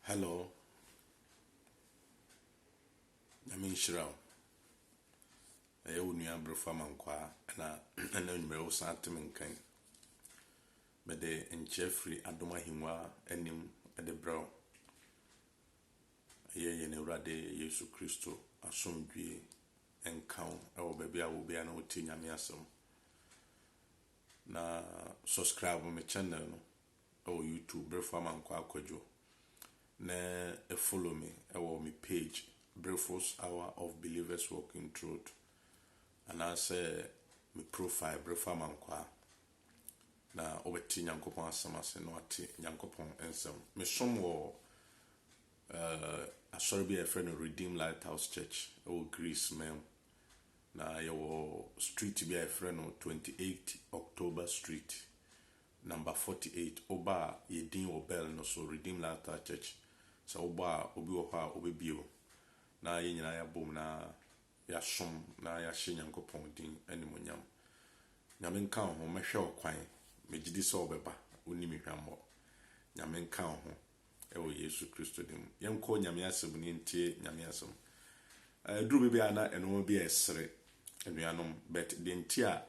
Hello. Nyame nhyira wo. Ɛyɛ wo nua Abrefa Mankwaa na ɛna nwummerɛ wo san te me nkan. Mede nkyerɛ firi adom ahengua anim de brɛ wo. Ɛyɛ yɛn Awurade Yesu Kristo asomdwie nka wo ɛwɔ baabi a wo biara na wotie Nyame asɛm. Na subscribe me channel no. wɔ YouTube Brefo Amankwaa Akwadwo na follow me wɔ me page Brefo's Hour of Believers Walking Truth anaasɛ me profile Brefo Amankwaa na wobɛte Nyankopɔn asɛm ase na wate Nyankopɔn nsɛm. Mesom wɔ uh, asɔre bi a yɛfrɛ no Redeem Lighthouse Church wɔ Greece man mu na yɛwɔ street bi a yɛfrɛ no 28 October Street Number forty eight oba a yɛ din wɔ bell no so redeem last star church sɛ wo bɔ a obi wɔ hɔ a ɔbɛ bie o na yɛ nyinaa ya bom na yɛ som na yɛ hyɛ nyankopɔn din animonyam nyame nka wo ho mɛ hwɛ wo kwan mɛ gyidi sɛ ɔbɛ ba wo ni me hwammɔ nyame nka wo ho. wɔ Yesu Kristo din mu. Yɛnkɔ Nyame asɛm ne yɛntie Nyame asɛm. Ɛduru baabi a na nnoɔma bi ɛresere anuanom but deɛ nti a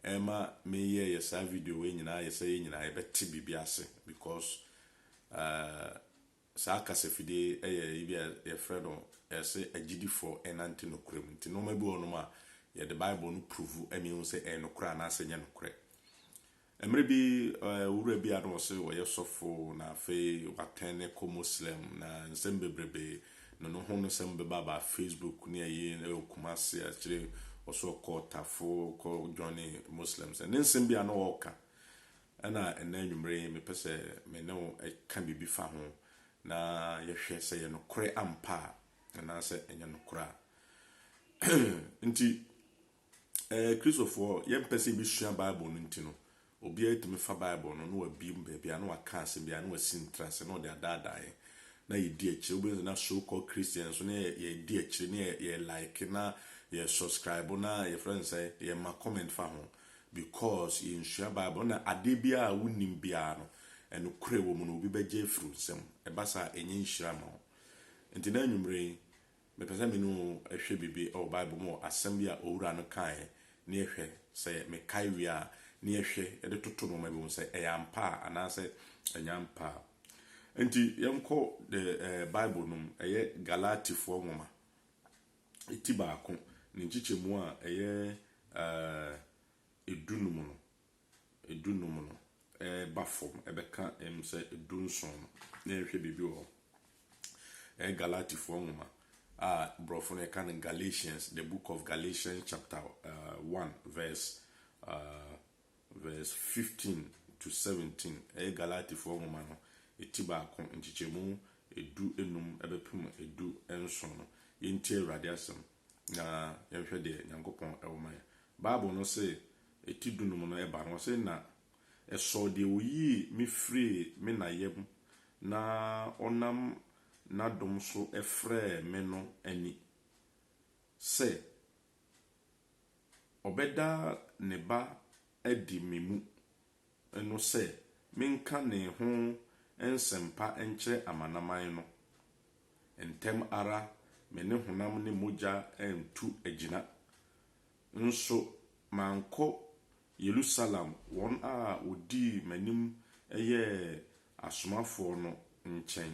ɛma meyɛɛyɛ saa video wei nyinaa yɛ sɛ yɛn nyinaa yɛbɛte biribi ase because saa kasafidie ɛyɛ ebi a yɛfrɛ no ɛsɛ agyidifoɔ ɛnante nokorɛ mu nti nnoɔma bi wɔ nom a yɛde Bible no prove ɛma yɛhu sɛ ɛyɛ nokorɛ anaasɛ nyɛ nokorɛ. Mmere bi owura bi a na ɔse ɔyɛ sɔfo na afei watɛn ne kɔ Moslem na nsɛm bebrebe no no ho nsɛm bɛba ba Facebook ne ayi ɛwɔ Kumasi akyire ɔso ɔkɔ ɔtafo kɔ joine Moslems ɛne nsɛm bi a na ɔka ɛna ɛnɛ anwummere yi mepɛ sɛ me ne wo ɛka biribi fa ho na yɛhwɛ sɛ yɛ nokorɛ ampa a anaasɛ ɛnyɛ nokorɛ a nti Ɛɛ, Kristofoɔ, yɛmpɛ sɛ yɛbɛsua Bible no nti no, obiara tumi fa Bible no na wabie mu baabi a na waka asɛm bi a na wasi ntrase na ɔde adaadaa yɛn na yɛdi akyire. Wobɛhu sɛ na so called Christians nso na yɛ, yɛdi akyire na yɛ, yɛ like na yɛ subscribe na yɛfrɛ no sɛ yɛma comment fa ho because yɛnsua Bible na adeɛ biara a wonim biara no ɛnokorɛ wɔ mu no obi bɛgye afiri wo nsam. Ɛba saa a, ɛnyɛ nhyira ma wo. Nti na anwummere yi, Mepɛ sɛ me ne wo hwɛ biribi wɔ Bible mu wɔ asɛm bi a owura no kaeɛ na yɛhwɛ sɛ mekae wie a na yɛhwɛ de toto nnoɔma bi ho sɛ ɛyɛ ampa a anaasɛ ɛnyɛ ampa a. Enti yɛnkɔ the eh, Bible no mu, ɛyɛ Galatifoɔ nwoma ti baako ne nkyekyɛmu a ɛyɛ eh, edunum no. dunum no reba fam bɛka mu sɛ dunson no, na yɛnhwɛ biribi wɔ hɔ. Ɛyɛ Galatifoɔ nwoma a borɔfo no yɛka no Galatians, the book of Galatians chapter uh, 1 verse uh, verse 15 to 17. Ɛyɛ Galatifoɔ nwoma no ɛti baako nkyekyɛmu edu enum ɛbɛpem edu nson no. Yɛntie Awurade asɛm. na yɛnhwɛ deɛ Nyankopɔn wɔ ma yɛn. Bible no se eti dunum no ba no, ɔse, Na ɛsɔɔ deɛ oyii me firii me na yam na ɔnam n'adom so frɛɛ me no ani, sɛ ɔbɛda ne ba adi me mu no sɛ menka ne ho nsɛmpa nkyerɛ amanaman no. Ntɛm ara me ne honam ne mogya antu agyina. Nso mankɔ Yerusalem wɔn a wɔdii m'anim yɛɛ asomafoɔ no nkyɛn,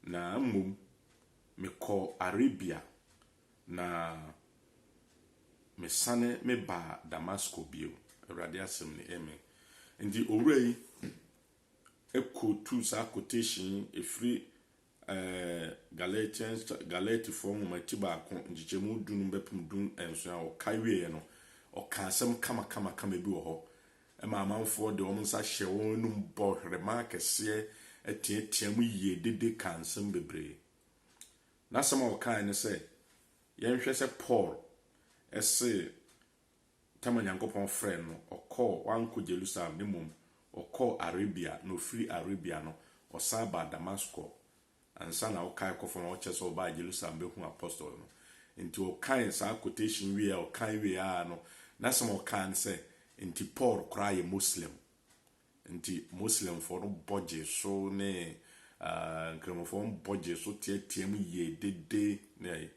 na mmom mekɔɔ Arabia Na mesane mebaa Damasko bio, Awurade asɛm ni. Amen. Enti owura yi kɔtuu saa quotation yi, ɛfiri eh, Galatians, Galatifoɔ nwoma ti baako, nkyekyɛmu du no bɛpem du nson a ɔka wieɛ no, ɔka asɛm kamakamakama bi wɔ hɔ ma amanfoɔ de wɔn nsa hyɛ wɔn anum bɔ hwerema kɛseɛ, teateam yie dede ka nsɛm bebree. N'asɛm a ɔkae ne sɛ, Yɛnhwɛ sɛ Paul se tam a Nyankopɔn frɛɛ no, ɔkɔɔ, wankɔ Jerusalem, na mmom ɔkɔɔ Arabia, na ɔfiri Arabia no, ɔsan baa Damasko, ansa na ɔkae kɔ fam a ɔkyerɛ sɛ ɔbaa Jerusalem bɛhuu apostol no. Enti ɔkae saa quotation wieɛ a ɔkae wieɛ ara no, n'asɛm a ɔkae ne sɛ, Enti Paul koraa yɛ Moslem. Nti Muslimfoɔ no bɔ gyee so ne Nkramofoɔ no bɔ gyee so teateaam yie dede ne ayi.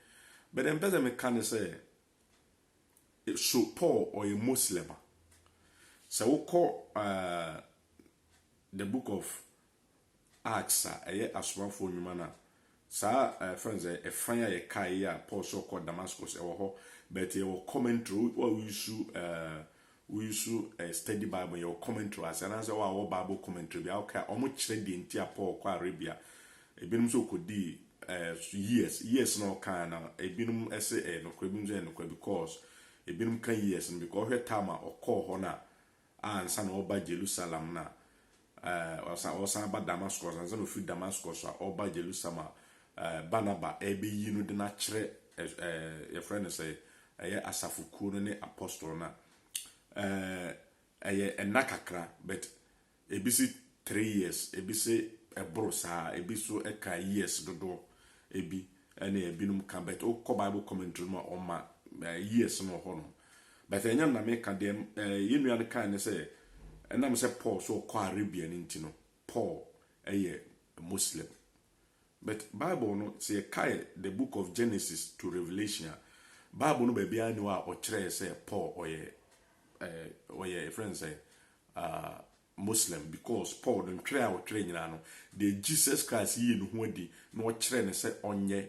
But deɛ mpɛ sɛ meka ne sɛ, so Paul ɔyɛ Muslim a? Sɛ wokɔ The Book of Acts a ɛyɛ Asomafoɔ Nnwuma no a, saa ɛɛ fɛn sɛ ɛfan a yɛkae yi a Paul sɛ ɔkɔ Damascus ɛwɔ hɔ, but yɛwɔ commentary wo a woresu ɛɛ woresu ɛɛ study Bible yɛwɔ commentary wɔ ase anaasɛ wo a wɔwɔ Bible commentary bi a wokae a wɔkyerɛ deɛ nti a Paul kɔ Arabia. Ebinom sɛ ɔkɔdii ɛɛ years years na ɔkae na ebinom ɛsɛ ɛyɛ nokorɛ ebinom sɛ ɛyɛ nokorɛ because ebinom ka years no because ɔhwɛ time a ɔkɔɔ hɔ no a a ansa na ɔreba Jerusalem no a eh, ɔsan ɔsan ba Damascus, ansa na ofiri Damascus a ɔba Jerusalem a eh, Barnaba ɛrebɛyi no de no akyerɛ eh, eh, yɛfrɛ no sɛ ɛyɛ asafo kuo no ne apostol no a eh, ɛyɛ ɛna kakra but ebi se three years ebi se ɛboro saa ebi so ɛka years dodoɔ ebi ɛne ebinom ka but wokɔ bible commentary mu a ɔma eh, years no wɔ hɔnom But ɛnyɛ no na meka, deɛ eh, yɛn nua no kae ne sɛ, ɛnam sɛ Paul so ɔkɔ Arabia no nti no, Paul yɛ Muslim. But Bible no, sɛ yɛkae the book of Genesis to Revelation a, Bible no baabiara nni hɔ a ɔkyerɛɛ sɛ Paul ɔyɛ, eh, ɔyɛ, ɛfrɛ no sɛ, ah, Muslim because Paul no ntwerɛ a ɔtwerɛ nyinaa no deɛ Jesus Christ yii ne ho adi na ɔkyerɛɛ no sɛ ɔnyɛ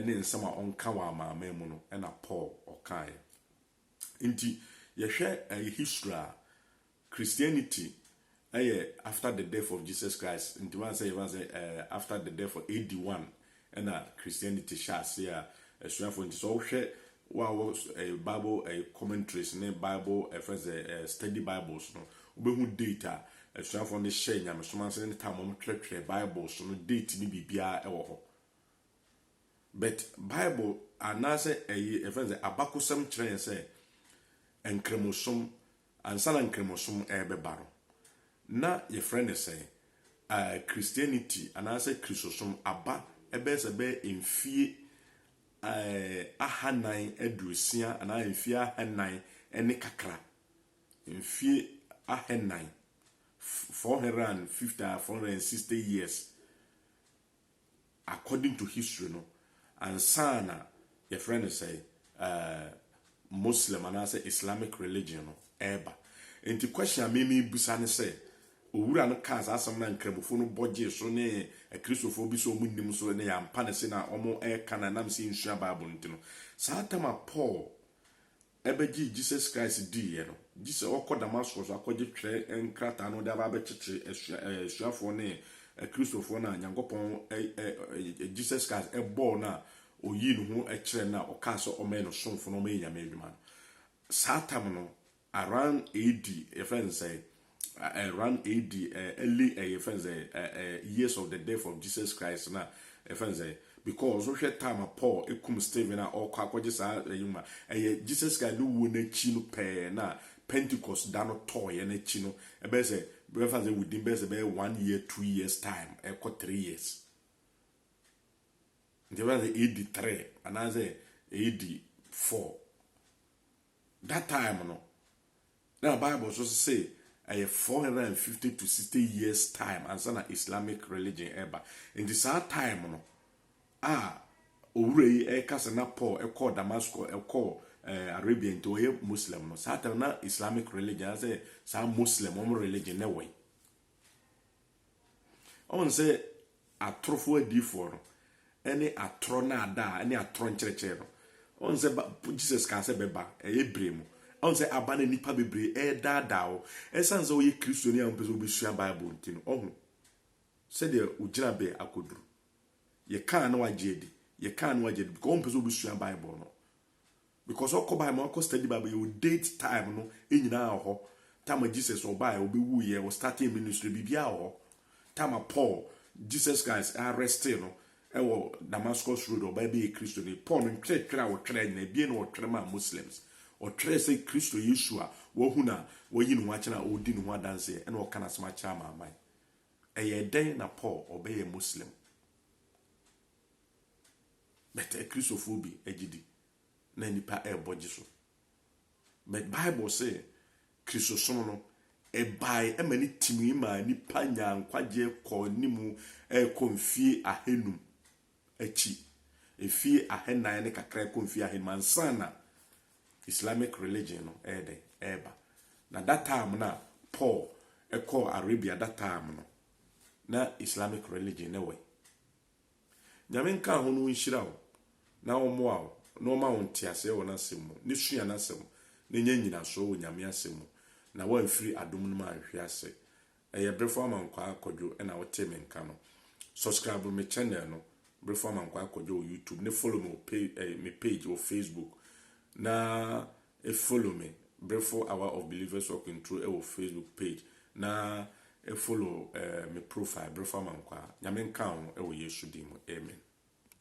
ne nsɛm a ɔnka wɔ amanaman mu no na Paul ɔkaeɛ. Nti yɛhwɛ history a Christianity yɛ after the death of Jesus Christ, nti woansɛ yɛfa sɛ after the death of AD 1 na Christianity hyɛ ase a asuafo nti sɛ ɔhwɛ wo a wɔ ɛyɛ bible ɛyɛ commentaries ne bible ɛfɛn sɛ ɛyɛ study bibles no wobɛhu date a asuafo no hyɛ nyamesom ase ne tam wɔn twerɛtwerɛ bibles no date ne biribiara ɛwɔ hɔ but bible anaasɛ ɛyɛ ɛfɛn sɛ abakosɛm kyerɛ yɛn sɛ nkramosom Ansa na Nkramosom rebɛba no, na wɔfrɛ no sɛn? Christianity anaasɛ Kristosom aba bɛyɛ sɛ ɛbɛyɛ mfeɛ ahanan aduosia anaa mfeɛ ahanan ne kakra. Mfeɛ ahanan, four hundred and fifty anaa four hundred and sixty years. According to history no ansa na yɛfrɛ no sɛn ɛɛ Muslim anaasɛ Islamic religion no ɛɛba. Nti question a me meebusa ne sɛ, Owura no kaa saa asɛm no a Nkramofo no bɔ gyee so ne Akristofoɔ bi sɛ wɔn nnim so ne yɛampa no se na wɔn ɛɛka no a nam sɛ yɛnsua Bible no nti no. Saa tam a Paul ɛbɛgyee Jesus Christ diiɛ no, gye sɛ ɔkɔ Damascus akɔgye twerɛ nkrataa no de aba abɛkyekyere asua ɛɛ asuafoɔ ne Akristofoɔ no a Nyankopɔn ɛ ɛ ɛ Jesus Christ bɔɔ no a ɔyii ne ho kyerɛɛ no a ɔkaa sɛ ɔmmɛyɛ no somfo na ɔmmɛyɛ Nyame adwuma no. Saa tam no around AD yɛfrɛ no sɛn? around AD early ɛyɛ yɛfrɛ no sɛ years of the death of Jesus Christ na yɛfrɛ no sɛ because wohwɛ time a Paul kum Stephen a ɔkɔ akɔgye saa ɛyi ma ɛyɛ Jesus Christ ne wuo no akyi no pɛɛ na Pentecost da no tɔɔyɛ no akyi no ɛbɛyɛ sɛ bɛfa sɛ within bɛyɛ sɛ bɛyɛ one year two years time ɛkɔ three years nti bɛfa sɛ AD three anaasɛ AD four That time no na bible nso se ɛyɛ four hundred and fifty to sixty years time ansa na Islamic religion ɛba. Nti saa time no a owura yi ɛka sɛ na Paul ɛkɔɔ Damascus ɛkɔɔ eh, Arabia nti ɔyɛ Muslim no saa time na Islamic religion asɛ saa Muslim wɔn religion na ɛwɔ yi. Ɔn sɛ atorofo adiyifoɔ no, ɛne atorɔ nnaadaa, ɛne atorɔ nkyerɛkyerɛ no, ɔn sɛ ba, Jesus kaa sɛ bɛba, ɛyɛ bere mu. Ɔn sɛ aba na nnipa bebree ɛredaadaa wo, ɛsan sɛ woyɛ Kristoni a wompɛ sɛ wobɛsua Bible nti no, ɔho sɛdeɛ wo gyinabea akɔduru. Yɛkaa na wagye adi, yɛkaa na wagye adi, because wompɛ sɛ wobɛsua Bible no. Because ɔkɔ bible mu akɔ study bible yɛ wo date time no nyinaa wɔ hɔ time a Jesus ɔbaeɛ ɔbɛwuu yɛ ɔ starting ministry biribiara wɔ hɔ time a Paul Jesus Christ arresting no ɛwɔ Damascus road ɔbaa bɛyɛ Kristo ni Paul no ntwerɛtwerɛ a ɔtwerɛ nyinaa ebien na ɔtwerɛ maa Muslims ɔtwerɛ sɛ Kristo Yesu a wahu no a wayi ne ho akyerɛ a ɔredi ne ho adanseɛ ɛna ɔka n'asɛm akyerɛ amaaman ɛyɛ dɛn na Paul ɔbɛyɛ Muslim But Akristofoɔ bi gye di na nnipa rebɔ gye so. But Bible se Kristosom no, ɛbae ma ne timii maa nnipa nyaa nkwagyeɛ kɔɔ anim rekɔ mfie ahanum akyi, mfie ahanan ne kakra rekɔ mfie ahanum ansa na Islamic religion no ɛyɛ dɛn ɛreba. Na that time no a Paul kɔɔ Arabia that time no, na Islamic religion no wɔ he? Nyame nka ho na ɔnhyira wo na ɔmmoa wo na ɔma wo nteaseɛ wɔ n'asɛm mu ne sua n'asɛm na nya nyinasoɔ wɔ Nyame asɛm mu na woanfiri adom no mu anhwe ase. Ɛyɛ Berefo Amankwaa Kwadwo na wo tee me nka no. Subscribe me channel no Berefo Amankwaa Kwadwo wɔ YouTube ne follow me wɔ me page wɔ Facebook na E follow me brefo hour of believers walking through ɛwɔ facebook page na e follow eh me profile brefo amankwaa nyame nka wo ho ɛwɔ yesu din mu amen.